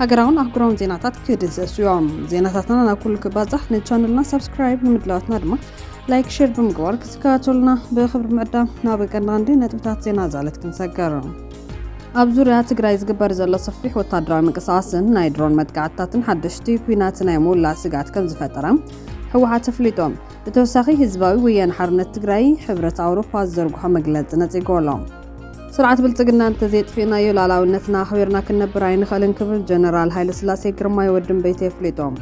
ሃገራውን ኣህጉራውን ዜናታት ክድህሰሱ እዮም። ዜናታትና ናብ ኩሉ ክባጻሕ ንቻነልና ሳብስክራይብ ንምድላዋትና ድማ ላይክ፣ ሼር ብምግባር ክትከታተሉና ብክብሪ ምዕዳም ናብ ቀንዲ ቀንዲ ነጥብታት ዜና ዛለት ክንሰገር ኣብ ዙርያ ትግራይ ዝግበር ዘሎ ሰፊሕ ወታደራዊ ምንቅስቓስን ናይ ድሮን መጥቃዕትታትን ሓደሽቲ ኩናት ናይ ምውላዕ ስግኣት ከም ዝፈጠረ ህወሓት ኣፍሊጦም። ብተወሳኺ ህዝባዊ ወያነ ሓርነት ትግራይ ሕብረት ኣውሮፓ ዝዘርግሖ መግለፂ ነፂጎ ኣሎ። ስርዓት ብልፅግና እንተዘየጥፊእናዮ ላዕላዊነትና ኣኽቢርና ክንነብር ኣይንኽእልን ክብል ጀነራል ሃይለስላሴ ግርማይ ወዲ እምበይተ የፍሊጦም።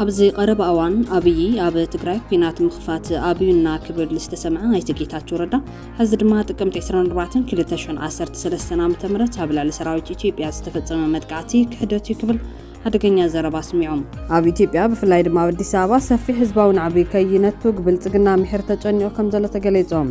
ኣብዚ ቀረባ እዋን ኣብዪ ኣብ ትግራይ ኲናት ምኽፋት ኣብዩና ክብል ዝተሰምዐ ኣይተ ጌታቸው ረዳ ሕዚ ድማ ጥቅምቲ 24/2013 ዓ.ም ኣብ ልዕሊ ሰራዊት ኢትዮጵያ ዝተፈጸመ መጥቃዕቲ ክሕደት እዩ ክብል ሓደገኛ ዘረባ ኣስሚዖም። ኣብ ኢትዮጵያ ብፍላይ ድማ ኣብ ኣዲስ ኣበባ ሰፊሕ ህዝባዊ ናዕቢ ከይነቱግ ብልጽግና ምሒር ተጨኒቑ ከም ዘሎ ተገሊጾም።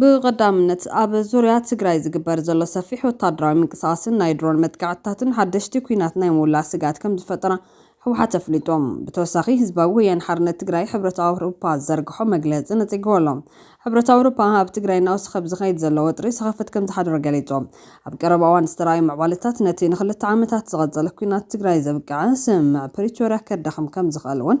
ብቐዳምነት ኣብ ዙርያ ትግራይ ዝግበር ዘሎ ሰፊሕ ወታደራዊ ምንቅስቓስን ናይ ድሮን መጥቃዕትታትን ሓደሽቲ ኲናት ናይ ምውላዕ ስግኣት ከምዝፈጠራ ህወሓት ኣፍሊጡ። ብተወሳኺ ህዝባዊ ወያነ ሓርነት ትግራይ ሕብረት ኣውሮፓ ዝዘርግሖ መግለፂ ነፂግዎ ኣሎ። ሕብረት ኣውሮፓ ኣብ ትግራይ እናወሰኸ ብዝኸይድ ዘሎ ወጥሪ ሰኸፍት ከምዝሓደሮ ገሊፁ። ኣብ ቀረባ እዋን ዝተርኣዩ ምዕባለታት ነቲ ንክልተ ዓመታት ዝቐፀለ ኲናት ትግራይ ዘብቅዐ ስምምዕ ፕሪቶርያ ከዳኽም ከምዝኽእል እውን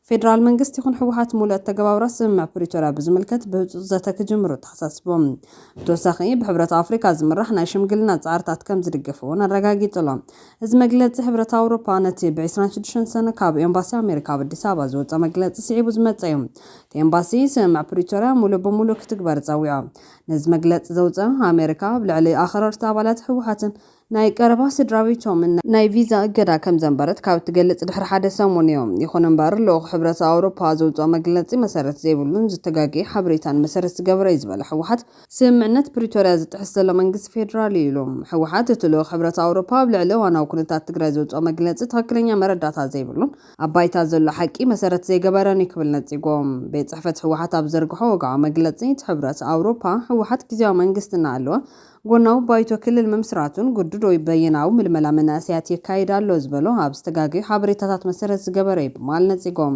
ፌደራል መንግስቲ ይኹን ህወሓት ሙሉእ ኣተገባብራ ስምምዕ ፕሪቶርያ ብዝምልከት ብህፁፅ ዘተ ክጅምሩ ኣተሓሳሲቦም። ብተወሳኺ ብሕብረት ኣፍሪካ ዝምራሕ ናይ ሽምግልና ፃዕርታት ከምዝድግፍ እውን ኣረጋጊፁሎም። እዚ መግለፂ ሕብረት ኣውሮፓ ነቲ ብ ዕስራን ሽዱሽተን ሰነ ካብ ኤምባሲ ኣሜሪካ ኣብ ኣዲስ ኣበባ ዝወፀ መግለፂ ስዒቡ ዝመፀ እዩ። እቲ ኤምባሲ ስምምዕ ፕሪቶርያ ሙሉእ ብሙሉእ ክትግበር ፀዊዖ። ነዚ መግለፂ ዘውፀኣ ኣሜሪካ ኣብ ልዕሊ ኣኽረርቲ ኣባላት ህወሓትን ናይ ቀረባ ስድራቤቶምን ናይ ቪዛ እገዳ ከም ዘንበረት ካብ እትገልጽ ድሕሪ ሓደ ሰሙን'ዩ። ይኹን'ምበር፣ ልኡኽ ሕብረት ኣውሮፓ ዘውጽኦ መግለጺ መሰረት ዘይብሉን ዝተጋገየ ሓበሬታን መሰረት ዝገበረ'ዩ ዝበለ ህወሓት፣ ስምምዕነት ፕሪቶርያ ዝጥሕስ ዘሎ መንግስቲ ፌደራል'ዩ ኢሉ። ህወሓት፣ እቲ ልኡኽ ሕብረት ኣውሮፓ ኣብ ልዕሊ እዋናዊ ኩነታት ትግራይ ዘውጽኦ መግለጺ ትኽክለኛ መረዳእታ ዘይብሉን ኣብ ባይታ ዘሎ ሓቂ መሰረት ዘይገበረን'ዩ ክብል ነጺጎ። ቤት ጽሕፈት ህወሓት ኣብ ዝዘርግሖ ወግዓዊ መግለጺ፣ እቲ ሕብረት ኣውሮፓ፣ ህወሓት ግዝያዊ መንግስቲ እናሃለወ ጎናዊ ባይቶ ክልል ምምስራቱን ግዱድ ወይ በየናዊ ምልመላ መናእሰያት የካይድ ኣሎ ዝበሎ ኣብ ዝተጋገዩ ሓበሬታታት መሰረት ዝገበረ'ዩ ብማል ነጺጎም።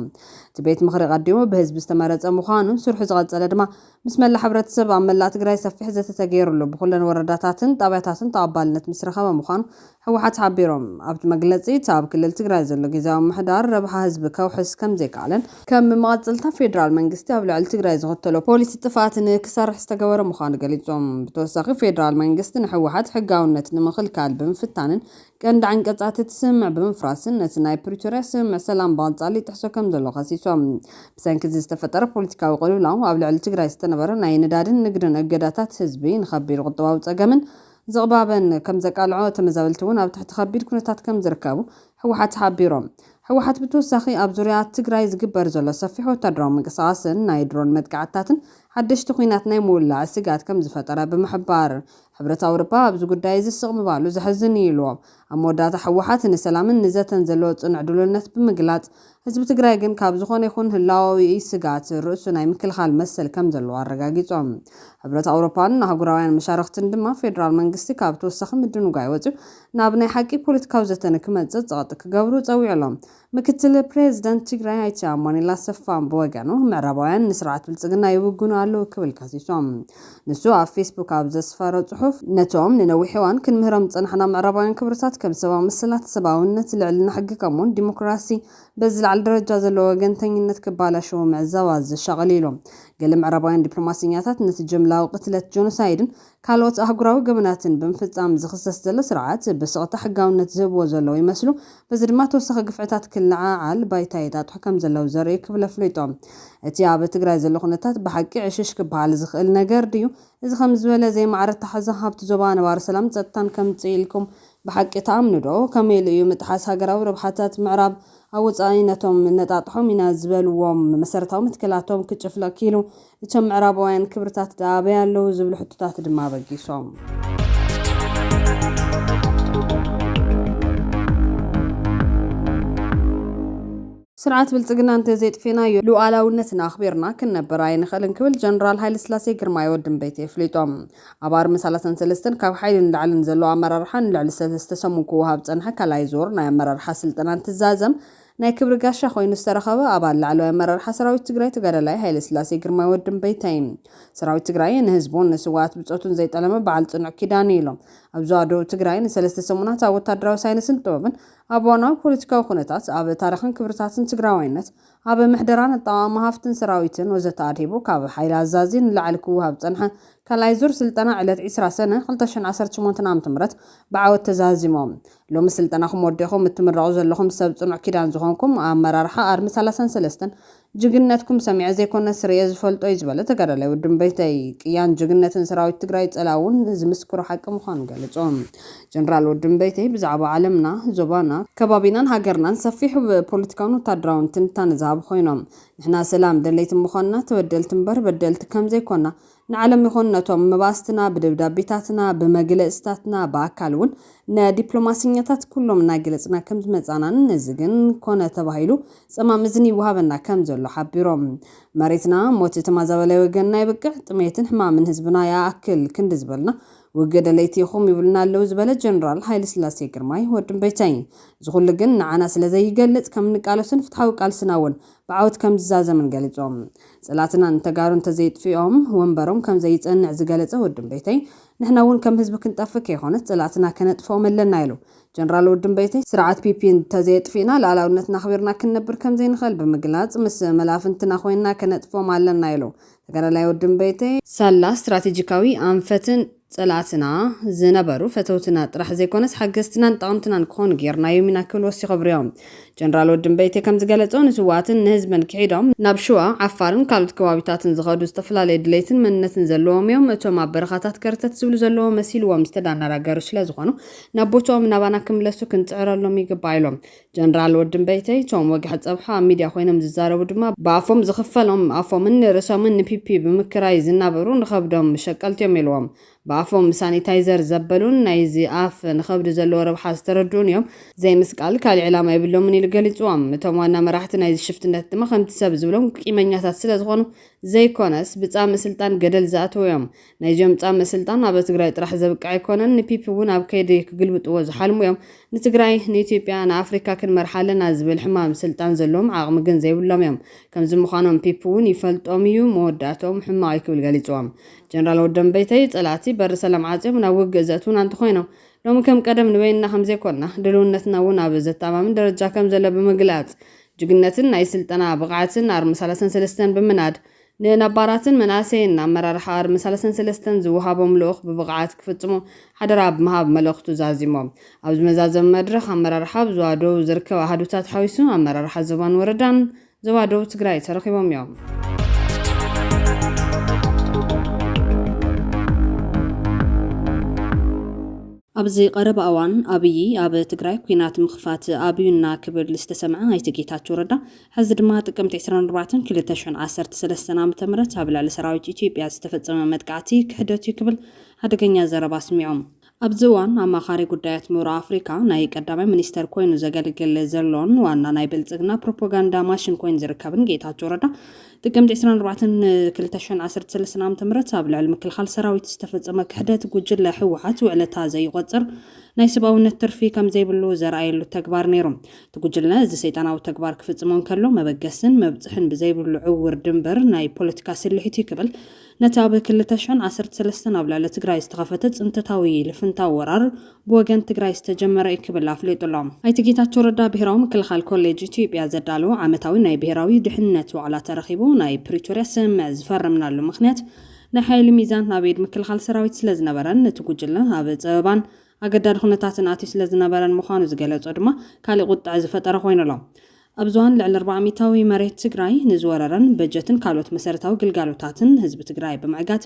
እቲ ቤት ምኽሪ ቀዲሙ ብህዝቢ ዝተመረጸ ምዃኑን ስርሑ ዝቐጸለ ድማ ምስ መላእ ሕብረተሰብ ኣብ መላእ ትግራይ ሰፊሕ ዘተ ተገይሩሉ ብኹለን ወረዳታትን ጣብያታትን ተቐባልነት ምስረኸበ ምዃኑ ህወሓት ሓቢሮም። ኣብቲ መግለፂ እቲ ኣብ ክልል ትግራይ ዘሎ ጊዚያዊ ምምሕዳር ረብሓ ህዝቢ ከውሕስ ከምዘይከኣለን ከም መማቕፅልታ ፌዴራል መንግስቲ ኣብ ልዕሊ ትግራይ ዝኽተሎ ፖሊሲ ጥፍኣት ንክሰርሕ ዝተገበረ ምዃኑ ገሊፆም። ብተወሳኺ ፌዴራል መንግስቲ ንህወሓት ሕጋውነት ንምኽልካል ብምፍታንን ቀንዲ ዓንቀፃት እቲ ስምምዕ ብምፍራስን ነቲ ናይ ፕሪቶርያ ስምምዕ ሰላም ብቐፃሊ ይጥሕሶ ከምዘሎ ከሲሶም። ብሰንኪ እዚ ዝተፈጠረ ፖለቲካዊ ቅልውላው ኣብ ልዕሊ ትግራይ ዝተነበረ ናይ ነዳድን ንግድን እገዳታት ህዝቢ ንኸቢድ ቁጠባዊ ፀገምን ዝቕባበን ከምዘቃልዖ ተመዛበልቲ እውን ኣብ ትሕቲ ከቢድ ኩነታት ከምዝርከቡ ህወሓት ሓቢሩ። ህወሓት ብተወሳኺ ኣብ ዙርያ ትግራይ ዝግበር ዘሎ ሰፊሕ ወታደራዊ ምንቅስቓስን ናይ ድሮን መጥቃዕትታትን ሓደሽቲ ኹናት ናይ ምውላዕ ስግኣት ከምዝፈጠረ ብምሕባር ሕብረት ኣውሮፓ ኣብዚ ጉዳይ እዚ ስቕ ምባሉ ዘሕዝን እዩ ኢሉ። ኣብ መወዳእታ ህወሓት ንሰላምን ንዘተን ዘለዎ ፅኑዕ ድልውነት ብምግላፅ ህዝቢ ትግራይ ግን ካብ ዝኾነ ይኹን ህላወዊ ስግኣት ርእሱ ናይ ምክልኻል መሰል ከምዘለዎ ኣረጋጊፆም። ሕብረት ኣውሮፓን ኣህጉራውያን መሻርኽትን ድማ ፌደራል መንግስቲ ካብ ተወሳኺ ምድንጓይ ወፂኡ ናብ ናይ ሓቂ ፖለቲካዊ ዘተ ንክመፅእ ፀቕጢ ክገብሩ ፀዊዑሎም። ምክትል ፕሬዝደንት ትግራይ ኣይተ ኣማኑኤል ኣሰፋ ብወገኑ ምዕራባውያን ንስርዓት ብልፅግና ይውግኑ ኣለው ክብል ከሲሶም። ንሱ ኣብ ፌስቡክ ኣብ ዘስፈሮ ፅሑፍ ነቶም ንነዊሕ እዋን ክንምህሮም ዝፀናሕና ምዕራባውያን ክብርታት ከም ሰባዊ መሰላት፣ ሰብኣውነት፣ ልዕልና ሕጊ ከምኡውን ዲሞክራሲ ብዝለዓለ ደረጃ ዘለዎ ወገንተኝነት ክባላሸዉ ምዕዛብ ኣዘሻቕል ኢሉ። ገለ ምዕራባውያን ዲፕሎማሰኛታት ነቲ ጅምላዊ ቅትለት ጆኖሳይድን ካልኦት ኣህጉራዊ ገበናትን ብምፍጻም ዝኽሰስ ዘሎ ስርዓት ብስቕታ ሕጋውነት ዝህብዎ ዘለዉ ይመስሉ፣ በዚ ድማ ተወሳኺ ግፍዕታት ክለዓዓል ባይታ የጣጥሑ ከም ዘለዉ ዘርእዩ ክብል ኣፍሊጡ። እቲ ኣብ ትግራይ ዘሎ ኩነታት ብሓቂ ዕሽሽ ክበሃል ዝኽእል ነገር ድዩ? እዚ ከምዚ ዝበለ ዘይማዕረ ኣተሓሕዛ ኣብቲ ዞባ ነባሪ ሰላምን ጸጥታን ከምጽእ ኢልኩም ብሓቂ ትኣምኑዶ? ከመይ ኢሉ እዩ ምጥሓስ ሃገራዊ ረብሓታት ምዕራብ ኣብ ወጻኢ ነቶም እነጣጥሖም ኢና ዝበልዎም መሰረታዊ መትከላቶም ክጭፍልቕ ክኢሉ? እቶም ምዕራባውያን ክብርታት ድኣ ኣበይ ኣለዉ ዝብሉ ሕቶታት ድማ ኣበጊሶም። ስርዓት ብልፅግና እንተዘየጥፌናዮ ሉኣላውነትና ኣኽቢርና ክንነብር ኣይንኽእልን ክብል ጀነራል ሃይለስላሴ ግርማይ ወዲ እምበይተይ ኣፍሊጦም። ኣብ ኣርሚ ሰላሳን ሰለስተን ካብ ሓይሊ ንላዕሊ ንዘለዉ ኣመራርሓ ንልዕሊ ሰለስተ ሰሙን ክወሃብ ዝፀንሐ ካልኣይ ዙር ናይ ኣመራርሓ ስልጠና እንትዛዘም፣ ናይ ክብሪ ጋሻ ኮይኑ ዝተረኸበ ኣባል ላዕለዋይ ኣመራርሓ ሰራዊት ትግራይ ተጋዳላይ ሃይለስላሴ ግርማይ ወዲ እምበይተይ እዩ። ሰራዊት ትግራይ ንህዝቡን ንስውኣት ብፆቱን ዘይጠለመ በዓል ፅኑዕ ኪዳን እዩ ኢሎም። ኣብ ዞባ ደቡብ ትግራይ ንሰለስተ ሰሙናት ኣብ ወታደራዊ ሳይንስን ጥበብን፣ ኣብ እዋናዊ ፖለቲካዊ ኩነታት፣ ኣብ ታሪኽን ክብርታትን ትግራዋይነት፣ ኣብ ምሕደራን ኣጠቓቕማ ሃፍትን ሰራዊትን ወዘተ ኣድሂቡ ካብ ሓይሊ ኣዛዚ ንላዕሊ ክወሃብ ዝፀንሐ ካልኣይ ዙር ስልጠና ዕለት ዒስራ ሰነ ክልተ ሽሕን ዓሰርተ ሸሞንተን ዓመተ ምህረት ብዓወት ተዛዚሞም ሎሚ ስልጠናኹም ወዲእኹም እትምረቑ ዘለኹም ሰብ ፅኑዕ ኪዳን ዝኾንኩም ኣመራርሓ ኣርሚ ሰላሳን ሰለስተን ጅግንነትኩም ሰሚዐ ዘይኮነስ ሪኤ ዝፈልጦ ዩ ዝበለ ተጋዳላይ ወዲ እምበይተይ ቅያን ጅግንነትን ሰራዊት ትግራይ ፀላኢ ውን ዝምስክሮ ሓቂ ምዃኑ ገለፁ። ጀነራል ወዲ እምበይተይ ብዛዕባ ዓለምና፣ ዞባና፣ ከባቢናን ሃገርናን ሰፊሕ ፖለቲካውን ወታደራውን ትንታነ ዝሃቡ ኮይኖም ንሕና ሰላም ደለይቲ ምዃንና ተበደልቲ እምበር በደልቲ ከምዘይኮና ንዓለም ይኹን ነቶም መባእስትና ብደብዳቤታትና፣ ብመግለጽታትና፣ ብኣካል እውን ንዲፕሎማሰኛታት ኩሎም እናገለጽና ከም ዝመጻእናን ነዚ ግን ኮነ ተባሂሉ ጸማም እዝኒ ይወሃበና ከም ዘሎ ሓቢሮም። መሬትና ሞት ተማዛባላይ ወገንና የብቅዕ፣ ጥሜትን ሕማምን ህዝብና ይኣክል ክንዲ ዝበልና ውግእ ደለይቲ ኢኹም ይብሉና ኣለዉ ዝበለ ጀነራል ሃይለስላሴ ግርማይ፣ ወዲ እምበይተይ፣ እዚ ኩሉ ግን ንዓና ስለ ዘይገልጽ ከም እንቃለሶን ፍትሓዊ ቃልስና እውን ብዓወት ከም ዝዛዘምን ገሊጹ። ጽላትና ንተጋሩ እንተዘይጥፊኦም ወንበሮም ከም ዘይጸንዕ ዝገለጸ ወዲ እምበይተይ፣ ንሕና እውን ከም ህዝቢ ክንጠፍእ ከይኮነስ ጽላእትና ከነጥፍኦም ኣለና ኢሉ። ጀነራል ወዲ እምበይተይ፣ ስርዓት ፒፒ እንተዘየጥፊእና ልኣላውነትና ኣኽቢርና ክንነብር ከም ዘይንኽእል ብምግላጽ፣ ምስ መላፍንትና ኮይንና ከነጥፍኦም ኣለና ኢሉ። ተጋዳላይ ወዲ እምበይተይ፣ ሳላ ስትራቴጂካዊ ኣንፈትን፣ ጸላእትና ዝነበሩ ፈተውትና ጥራሕ ዘይኮነስ ሓገዝትናን ጠቐምትናን ክኾኑ ጌርናዮም ኢና ክብል ወሲኹ ኣብሪሆ። ጀነራል ወዲ እምበይቴ ከምዝገለጾ ንስውኣትን ንህዝብን ክሒዶም ናብ ሽዋ፣ ዓፋርን ካልኦት ከባቢታትን ዝኸዱ ዝተፈላለየ ድሌትን መንነትን ዘለዎም'ዮም። እቶም ኣብ በረኻታት ከርተት ዝብሉ ዘለዎ መሲልዎም ዝተዳናራገሩ ስለዝኾኑ ናብ ቦትኦም ናባና ክምለሱ ክንጽዕረሎም ይግባእ ኢሎም። ጀነራል ወድምበይተይ እቶም ወግሐ ፀብሑ ኣብ ሚድያ ኮይኖም ዝዛረቡ ድማ ብኣፎም ዝኽፈሎም ኣፎምን ንርእሶምን ንፒፒ ብምክራይ ዝናበሩ ንኸብዶም ሸቀልቲ እዮም ኢልዎም ብኣፎም ሳኒታይዘር ዘበሉን ናይ እዚ ኣፍ ንኸብዲ ዘለዎ ረብሓ ዝተረድኡን እዮም ዘይምስቃል ካሊእ ዕላማ የብሎምን ኢሉ ገሊፅዎም እቶም ዋና መራሕቲ ናይዚ ሽፍትነት ድማ ከምቲ ሰብ ዝብሎም ቂመኛታት ስለዝኾኑ ዘይኮነስ ብፃምእ ስልጣን ገደል ዝኣተዉ እዮም ናይዚኦም ፃምእ ስልጣን ኣብ ትግራይ ጥራሕ ዘብቅዕ ኣይኮነን ንፒፒ እውን ኣብ ከይዲ ክግልብጥዎ ዝሓልሙ እዮም ንትግራይ ንኢትዮጵያ ንኣፍሪካ ክንመርሓ ኣለና ዝብል ሕማም ስልጣን ዘለዎም ዓቅሚ ግን ዘይብሎም እዮም ከምዚ ምኳኖም ፒፒ እውን ይፈልጦም እዩ መወዳእትኦም ሕማቅ እዩ ክብል ገሊፅዎም ጀነራል ወደንበይተይ ፀላእቲ በሪ ሰላም ዓፅዮም ናብ ውግእ ዘእትውና እንተኮይኖም ሎሚ ከም ቀደም ንበይንና ከምዘይኮንና ድልውነትና እውን ኣብ ዘተኣማምን ደረጃ ከምዘሎ ብምግላፅ ጅግነትን ናይ ስልጠና ብቅዓትን ኣርሚ ሰላሳን ሰለስተን ብምናድ ንነባራትን መናእሰይን ንኣመራርሓ ኣርሚ ሰለስተን ሰለስተን ዝወሃቦም ልኡኽ ብብቕዓት ክፍፅሙ ሓደራ ብምሃብ መልእኽቱ ዛዚሞም። ኣብዚ መዛዘሚ መድረኽ ኣመራርሓ ኣብ ዞባ ደቡብ ዝርከብ ኣሃዱታት ሓዊሱ ኣመራርሓ ዞባን ወረዳን ዞባ ደቡብ ትግራይ ተረኺቦም እዮም። ኣብዚ ቀረባ እዋን ኣብዪ ኣብ ትግራይ ኲናት ምኽፋት ኣብዩና ክብል ዝተሰምዐ ኣይተ ጌታቸው ረዳ ሐዚ ድማ ጥቅምቲ ዕስራን ኣርባዕተን ክልተ ሽሕን ዓሰርተ ሰለስተን ዓመተ ምህረት ኣብ ልዕሊ ሰራዊት ኢትዮጵያ ዝተፈፀመ መጥቃዕቲ ክሕደት እዩ ክብል ሓደገኛ ዘረባ ኣስሚዑ። ኣብዚ እዋን ኣማኻሪ ጉዳያት ምብራቅ ኣፍሪካ፣ ናይ ቀዳማይ ሚኒስተር ኮይኑ ዘገልግል ዘሎን ዋና ናይ ብልፅግና ፕሮፖጋንዳ ማሽን ኮይኑ ዝርከብን ጌታቸው ረዳ ጥቅምቲ ዕስራን ኣርባዕተን ክልተ ሽሕን ዓሰርተ ሰለስተን ዓመተ ምህረት ኣብ ልዕሊ ምክልኻል ሰራዊት ዝተፈፀመ ክሕደት ጉጅለ ህወሓት ውዕለታ ዘይቖፅር ናይ ሰብኣውነት ትርፊ ከምዘይብሉ ዘርኣየሉ ተግባር ነይሩ። እቲ ጉጅለ እዚ ሰይጣናዊ ተግባር ክፍጽሞ እንከሎ መበገስን መብጽሕን ብዘይብሉ ዕውር ድምበር ናይ ፖለቲካ ስልሒት እዩ ክብል ነቲ ኣብ ክልተ ሽሕን ዓሰርተ ሰለስተን ኣብ ልዕሊ ትግራይ ዝተኸፈተ ጽንተታዊ ልፍንታዊ ወራር ብወገን ትግራይ ዝተጀመረ እዩ ክብል ኣፍሊጡ ኣሎ። ኣይተ ጌታቸው ረዳ ብሄራዊ ምክልኻል ኮሌጅ ኢትዮጵያ ዘዳለዎ ዓመታዊ ናይ ብሄራዊ ድሕንነት ዋዕላ ተረኺቡ ናይ ፕሪቶርያ ስምምዕ ዝፈረምናሉ ምኽንያት ናይ ሓይሊ ሚዛን ኣብ ኢድ ምክልኻል ሰራዊት ስለዝነበረን እቲ ጉጅለ ኣብ ጸበባን ኣገዳዲ ኩነታትን ኣትዩ ስለ ዝነበረን ምዃኑ ዝገለጾ ድማ ካሊእ ቁጥዐ ዝፈጠረ ኮይኑ ኣሎ። ኣብ ዞን ልዕሊ ኣርባዓ ሚታዊ መሬት ትግራይ ንዝወረረን በጀትን ካልኦት መሰረታዊ ግልጋሎታትን ህዝቢ ትግራይ ብምዕጋት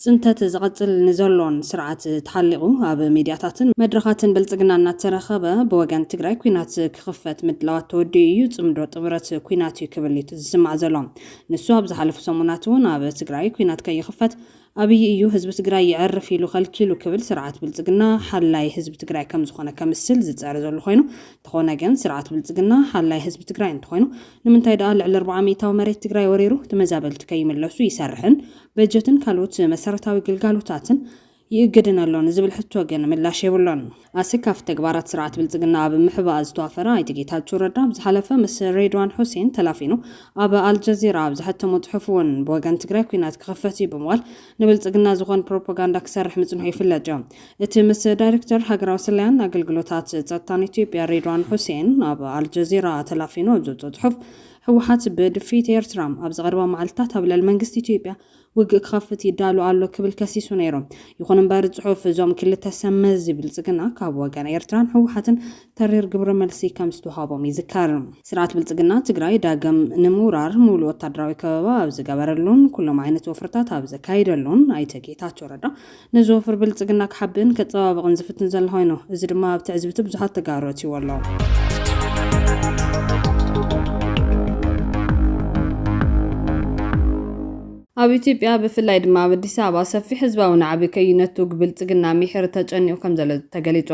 ፅንተት ዝቐፅል ንዘሎን ስርዓት ተሓሊቑ ኣብ ሚድያታትን መድረኻትን ብልፅግና እናተረኸበ ብወገን ትግራይ ኲናት ክኽፈት ምድላዋት ተወዲኡ እዩ፣ ፅምዶ ጥምረት ኲናት እዩ ክብል እዩ ዝስማዕ ዘሎ። ንሱ ኣብ ዝሓለፉ ሰሙናት እውን ኣብ ትግራይ ኲናት ከይኽፈት ኣብይ እዩ ህዝቢ ትግራይ የዕርፍ ኢሉ ከልኪሉ ክብል ስርዓት ብልፅግና ሓላይ ህዝቢ ትግራይ ከምዝኾነ ከምስል ዝፅዕር ዘሎ ኾይኑ እንተኾነ ግን ስርዓት ብልፅግና ሓላይ ህዝቢ ትግራይ እንተኾይኑ ንምንታይ ድኣ ልዕሊ ኣርብዓ ሚኢታዊ መሬት ትግራይ ወሪሩ ተመዛበልቲ ከይምለሱ ይሰርሕን በጀትን ካልኦት መሰረታዊ ግልጋሎታትን ይእግድን ኣሎ ንዝብል ሕቶ ግን ምላሽ የብሉን። ኣሰካፊ ተግባራት ስርዓት ብልፅግና ኣብ ምሕባእ ዝተዋፈረ ኣይተ ጌታቸው ረዳ ኣብ ዝሓለፈ ምስ ሬድዋን ሑሴን ተላፊኑ ኣብ ኣልጀዚራ ኣብ ዘሐተሞ ፅሑፍ እውን ብወገን ትግራይ ኩናት ክኽፈት እዩ ብምባል ንብልፅግና ዝኾን ፕሮፓጋንዳ ክሰርሕ ምፅንሑ ይፍለጥ እዩ። እቲ ምስ ዳይሬክተር ሃገራዊ ስለያን ኣገልግሎታት ፀጥታን ኢትዮጵያ ሬድዋን ሑሴን ኣብ ኣልጀዚራ ተላፊኑ ኣብ ዘውፅኦ ፅሑፍ ህወሓት ብድፍኢት ኤርትራ ኣብዚ ቀረባ መዓልትታት ኣብ ልዕሊ መንግስቲ ኢትዮጵያ ውግእ ክኸፍት ይዳሎ ኣሎ ክብል ከሲሱ ነይሩ። ይኹን እምበር ጽሑፍ እዞም ክልተ ሰብ መዚ ብልጽግና ካብ ወገን ኤርትራን ህወሓትን ተሪር ግብረ መልሲ ከምዝተውሃቦም ይዝከር። ስርዓት ብልጽግና ትግራይ ዳግም ንምውራር ሙሉእ ወታደራዊ ከበባ ኣብ ዝገበረሉን ኩሎም ዓይነት ወፍርታት ኣብ ዘካይደሉን ኣይተ ጌታቸው ረዳ ንዝወፍር ብልፅግና ክሓብእን ከፀባብቕን ዝፍትን ዘሎ ኾይኑ እዚ ድማ ኣብ ትዕዝብቲ ብዙሓት ተጋሩ ኣእትይዎ ኣሎ። ኣብ ኢትዮጵያ ብፍላይ ድማ ኣብ ኣዲስ ኣበባ ሰፊሕ ህዝባዊ ናዕቢ ከይነቱግ ብልፅግና ሚሒር ተጨኒቑ ከምዘሎ ተገሊፁ።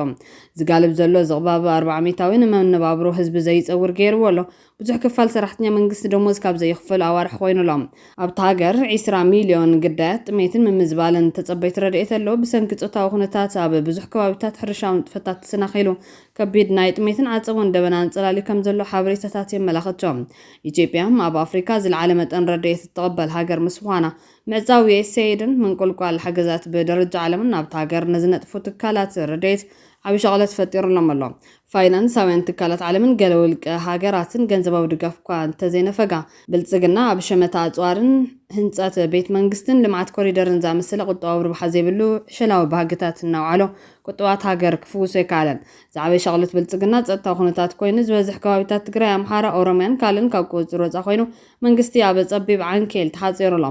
ዝጋልብ ዘሎ ዝቕባበ ኣርባዓ ሚታዊ ንመነባብሮ ህዝቢ ዘይፀውር ገይርዎ ኣሎ። ብዙሕ ክፋል ሰራሕተኛ መንግስቲ ደሞዝ ካብ ዘይኽፈሉ ኣዋርሕ ኮይኑ ኣሎ። ኣብታ ሃገር ዒስራ ሚልዮን ግዳያት ጥሜትን ምምዝባልን ተጸበይቲ ረድኤት ኣለዉ። ብሰንኪ ጾታዊ ኩነታት ኣብ ብዙሕ ከባቢታት ሕርሻዊ ንጥፈታት ተሰናኺሉ፣ ከቢድ ናይ ጥሜትን ዓጸቦን ደበና ኣንጸላልዩ ከም ዘሎ ሓበሬታታት የመላኽቱ። ኢትዮጵያ ኣብ ኣፍሪካ ዝልዓለ መጠን ረድኤት እትቕበል ሃገር ምስ ምዃና፣ ምዕጻው ዩኤስኤይድን ምንቁልቋል ሓገዛት ብደረጃ ዓለምን ኣብታ ሃገር ንዝነጥፉ ትካላት ረድኤት ዓቢ ሻቕሎት ፈጢሩሎም ኣሎ። ፋይናንሳውያን ትካላት ዓለምን ገለ ውልቀ ሃገራትን ገንዘባዊ ድጋፍ'ኳ እንተዘይነፈጋ፣ ብልጽግና ኣብ ሸመታ ኣጽዋርን ህንጸት ቤት መንግስትን ልምዓት ኮሪደርን ዝኣመሰለ ቁጠባዊ ረብሓ ዘይብሉ ዕሸላዊ ባህግታት እናውዓሎ ቁጠባት ሃገር ክፍውሶ ኣይከኣለን። ዝዓበየ ሻቕሎት ብልጽግና ጸጥታዊ ኩነታት ኮይኑ፣ ዝበዝሕ ከባቢታት ትግራይ፣ ኣምሓራ፣ ኦሮምያን ካልእን ካብ ቁጽጽር ወጻኢ ኮይኑ መንግስቲ ኣብ ጸቢብ ዓንኬል ተሓጺሩ'ሎ።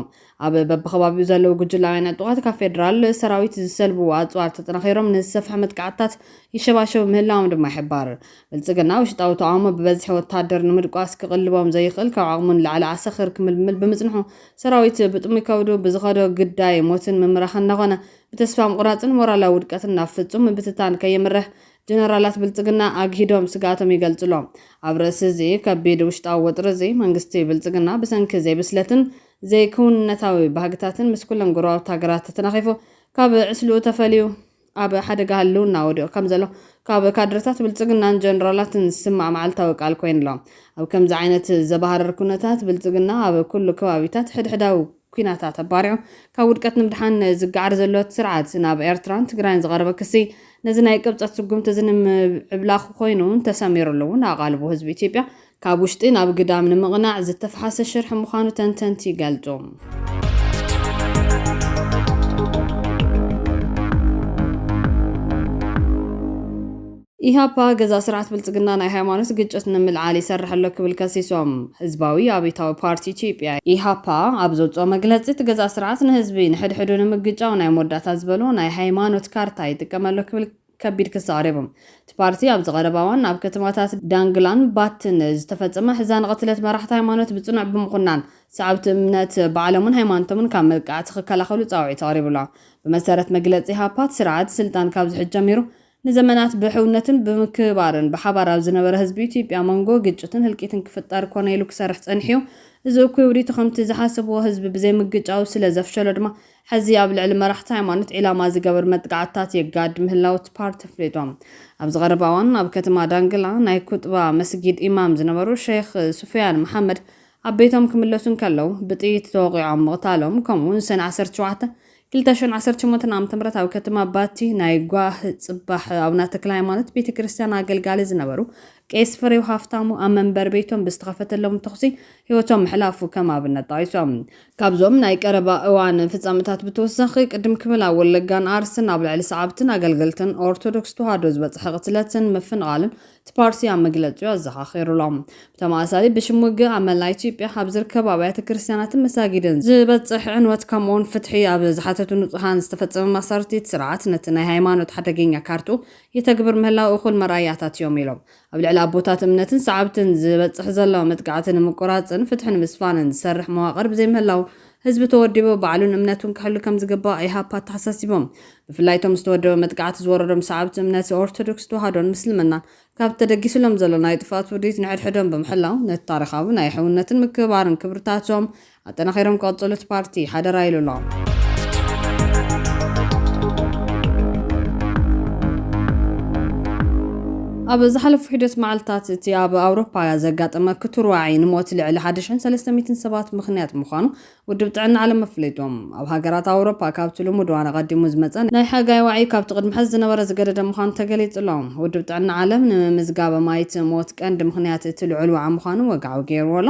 ኣብ በብከባቢኡ ዘለዉ ጉጅላውያን ዕጡቓት ካብ ፌደራል ሰራዊት ዝሰልብዎ ኣጽዋር ተጠናኺሮም ንዝሰፍሐ መጥቃዕትታት ይሸባሸቡ ምህላዎም ድማ ይሕባር። ብልጽግና ውሽጣዊ ተቓውሞ ብበዝሒ ወተሃደር ንምድቋስ ክቕልቦም ዘይኽእል ካብ ዓቕሙ ንላዕሊ ዓሰኽር ክምልምል ብምጽንሑ ሰራዊት ብጥሙይ ከብዱ ብዝኸዶ ግዳይ ሞትን ምምራኽን እናኾነ ብተስፋ ምቑራጽን ሞራላዊ ውድቀትን ናብ ፍጹም ምብትታን ከየምርሕ ጀነራላት ብልጽግና ኣግሂዶም ስግኣቶም ይገልጹ ኣሎው። ኣብ ርእሲ'ዚ ከቢድ ውሽጣዊ ወጥሪ'ዚ መንግስቲ ብልጽግና ብሰንኪ ዘይብስለትን ዘይክውንነታዊ ባህግታትን ምስ ኩለን ጎረባብቲ ሃገራት ተተናኺፉ ካብ ዕስልኡ ተፈልዩ ኣብ ሓደጋ ህልውና ወዲቑ ከም ዘሎ ካብ ካድረታት ብልጽግናን ጀነራላትን ዝስማዕ መዓልታዊ ቃል ኮይኑ ኣሎ። ኣብ ከምዚ ዓይነት ዘባህርር ኩነታት ብልጽግና ኣብ ኩሉ ከባቢታት ሕድሕዳዊ ኩናታት ኣባሪዑ ካብ ውድቀት ንምድሓን ዝገዓር ዘሎ እቲ ስርዓት ናብ ኤርትራን ትግራይን ዝቐረበ ክሲ ነዚ ናይ ቅብጸት ስጉምቲ'ዚ ንምዕብላኹ ኮይኑ ተሰሚርሉ እውን ኣቓልቦ ህዝቢ ኢትዮጵያ ካብ ውሽጢ ናብ ግዳም ንምቕናዕ ዝተፍሓሰ ሽርሒ ምዃኑ ተንተንቲ ይገልጹ። ኢህኣፓ ገዛእ ስርዓት ብልፅግና ናይ ሃይማኖት ግጭት ንምልዓል ይሰርሕ ኣሎ ክብል ከሲሶም። ህዝባዊ ኣብዮታዊ ፓርቲ ኢትዮጵያ፣ ኢህኣፓ፣ ኣብ ዘውፅኦ መግለፂ እቲ ገዛእ ስርዓት ንህዝቢ ንሕድሕዱ ንምግጫው ናይ መወዳእታ ዝበሎ ናይ ሃይማኖት ካርታ ይጥቀም ኣሎ ክብል ከቢድ ክሲ ኣቕሪቦም። እቲ ፓርቲ ኣብዚ ቀረባ እዋን ኣብ ከተማታት ዳንግላን ባትን ዝተፈጸመ ኣሕዛኒ ቅትለት መራሕቲ ሃይማኖት ብጽኑዕ ብምኹናን፣ ሰዓብቲ እምነት ባዕሎምን ሃይማኖቶምን ካብ መጥቃዕቲ ክከላኸሉ ጻውዒት ኣቕሪቡ ኣሎ። ብመሰረት መግለጺ ኢህኣፓ፣ እቲ ስርዓት ስልጣን ካብ ዝሕዝ ጀሚሩ ንዘመናት ብሕውነትን ብምክብባርን ብሓባር ኣብ ዝነበረ ህዝቢ ኢትዮጵያ መንጎ ግጭትን ህልቂትን ክፍጠር ኮነ ኢሉ ክሰርሕ ጸኒሑ'ዩ። እዚ እኩይ ውዲቱ ከምቲ ዝሓሰብዎ ህዝቢ ብዘይምግጫው ስለዘፍሸሎ ድማ ሕዚ ኣብ ልዕሊ መራሕቲ ሃይማኖት ዒላማ ዝገብር መጥቃዕትታት የጋድ ምህላው እቲ ፓርቲ ኣፍሊጡ። ኣብዚ ቀረባ እዋን ኣብ ከተማ ዳንግላ ናይ ኩጥባ መስጊድ ኢማም ዝነበሩ ሸይኽ ሱፍያን መሓመድ ኣብ ቤቶም ክምለሱ እንከለው ብጥይት ተወቒዖም ምቕታሎም ከምኡ'ውን ሰነ ዓሰርተ ሸውዓተ፣ ክልተ ሽሕን ዓሰርተ ሸሞንተን ዓመተ ምህረት ኣብ ከተማ ባቲ ናይ ጓህ ጽባሕ ኣቡነ ተክለሃይማኖት ቤተ ክርስትያን ኣገልጋሊ ዝነበሩ ቄስ ፍሬው ሃፍታሙ ኣብ መንበሪ ቤቶም ብዝተኸፈተሎም ተኹሲ ህይወቶም ምሕላፉ ከም ኣብነት ጠቒሶም። ካብዞም ናይ ቀረባ እዋን ፍጻመታት ብተወሳኺ፣ ቅድም ክብል ኣብ ወለጋን ኣርሲን ኣብ ልዕሊ ሰዓብትን ኣገልገልትን ኦርቶዶክስ ተዋህዶ ዝበጽሐ ቅትለትን ምፍንቓልን እቲ ፓርቲ ኣብ መግለጺኡ ኣዘኻኺሩ ኣሎ። ብተመሳሳሊ ብሽም ውግእ ኣብ መላእ ኢትዮጵያ ኣብ ዝርከቡ ኣብያተ ክርስትያናትን መሳጊድን ዝበጽሕ ዕንወት ከምኡ'ውን ፍትሒ ኣብ ዝሓተቱ ንጹሃን ዝተፈጸመ ማእሰርቲ'ቲ ስርዓት ነቲ ናይ ሃይማኖት ሓደገኛ ካርትኡ የተግብር ምህላው እኹል መርኣያታት እዮም ኢሎም። ኣብ ልዕሊ ኣቦታት እምነትን ሰዓብትን ዝበፅሕ ዘሎ መጥቃዕቲ ንምቁራፅን ፍትሒ ንምስፋንን ዝሰርሕ መዋቕር ብዘይምህላው ህዝቢ ተወዲቡ ባዕሉን እምነቱን ክሕሉ ከምዝግባእ ኢሃፓ ኣተሓሳሲቦም። ብፍላይ እቶም ዝተወደበ መጥቃዕቲ ዝወረዶም ሰዓብቲ እምነት ኦርቶዶክስ ተዋህዶን ምስልምናን ካብቲ ተደጊሱሎም ዘሎ ናይ ጥፍኣት ውዲት ንሕድሕዶም ብምሕላው ነቲ ታሪኻዊ ናይ ሕውነትን ምክብባርን ክብርታቶም ኣጠናኺሮም ክቕፅሉ እቲ ፓርቲ ሓደራ ኢሉ ኣሎ። ኣብ ዝሓለፉ ሒደት መዓልታት እቲ ኣብ ኣውሮፓ ዘጋጠመ ክቱር ዋዒ ንሞት ልዕሊ ሓደ ሽሕን ሰለስተ ሚእትን ሰባት ምኽንያት ምዃኑ ውድብ ጥዕና ዓለም ኣፍሊጡ። ኣብ ሃገራት ኣውሮፓ ካብቲ ልሙድ እዋን ኣቐዲሙ ዝመፀ ናይ ሓጋይ ዋዒ ካብቲ ቅድሚ ሐዚ ዝነበረ ዝገደደ ምዃኑ ተገሊፁ ኣሎ። ውድብ ጥዕና ዓለም ንምምዝጋብ ኣማኢት ሞት ቀንዲ ምኽንያት እቲ ልዑል ዋዒ ምዃኑ ወግዓዊ ገይርዎ ኣሎ።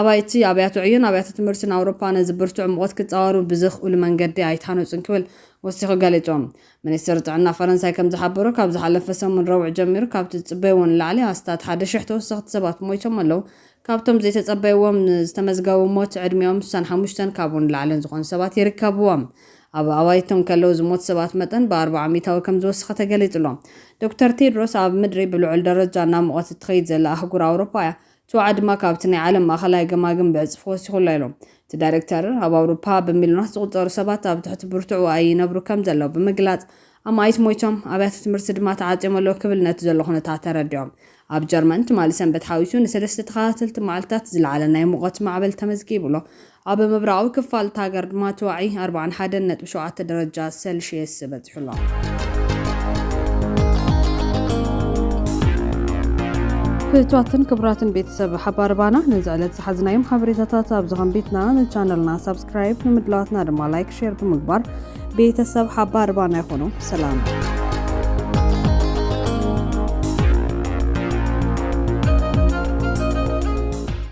ኣባይቲ ኣብያተ ዕዮን ኣብያተ ትምህርትን ኣውሮፓ ነዚ ብርቱዕ ሙቐት ክጻወሩ ብዘኽእሉ መንገዲ ኣይተሃነጹን ክብል ወሲኹ ገሊጹ። ሚኒስትሪ ጥዕና ፈረንሳይ ከም ዝሓበሮ፣ ካብ ዝሓለፈ ሰሙን ረቡዕ ጀሚሩ ካብቲ ዝጽበይዎ ንላዕሊ ኣስታት ሓደ ሽሕ ተወሰኽቲ ሰባት ሞይቶም ኣለዉ። ካብቶም ዘይተጸበይዎም ዝተመዝገቡ ሞት ዕድሚኦም ስሳን ሓሙሽተን ካብኡ ንላዕልን ዝኾኑ ሰባት ይርከብዎም። ኣብ ኣባይቶም ከለዉ ዝሞት ሰባት መጠን ብኣርብዓ ሚእታዊ ከም ዝወሰኸ ተገሊጹ'ሎ። ዶክተር ቴድሮስ፣ ኣብ ምድሪ ብልዑል ደረጃ እናሞቐት እትኸይድ ዘላ ኣህጉር ኣውሮፓ እያ። ቱዓ ድማ ካብቲ ናይ ዓለም ማእኸላይ ገማግም ብዕፅፊ ወሲኹ ኣሎ ኢሎም። እቲ ዳይሬክተር፣ ኣብ ኣውሮፓ ብሚልዮናት ዝቑፀሩ ሰባት ኣብ ትሕቲ ብርቱዕ ዋዒ ይነብሩ ከምዘለዉ ብምግላፅ፣ ኣማኢት ሞይቶም፣ ኣብያተ ትምህርቲ ድማ ተዓፅዮም ኣለዉ ክብል ነቲ ዘሎ ኩነታት ኣረዲኦም። ኣብ ጀርመን ትማሊ ሰንበት ሓዊሱ ንሰለስተ ተኸታተልቲ መዓልትታት ዝለዓለ ናይ ሙቐት ማዕበል ተመዝጊቡ ኣሎ። ኣብ ምብራቓዊ ክፋል እታ ሃገር ድማ እቲ ዋዒ ኣርብዓን ሓደን ነጥቢ ሸውዓተ ደረጃ ሰልሽየስ በጺሑ ኣሎ። ፍትዋትን ክቡራትን ቤተሰብ ሓባርባና ነዚ ዕለት ዝሓዝናዮም ሓበሬታታት ኣብዚ ከንቢትና ንቻነልና ሳብስክራይብ ንምድላዋትና ድማ ላይክ ሼር ብምግባር ቤተሰብ ሓባርባና ይኾኑ ሰላም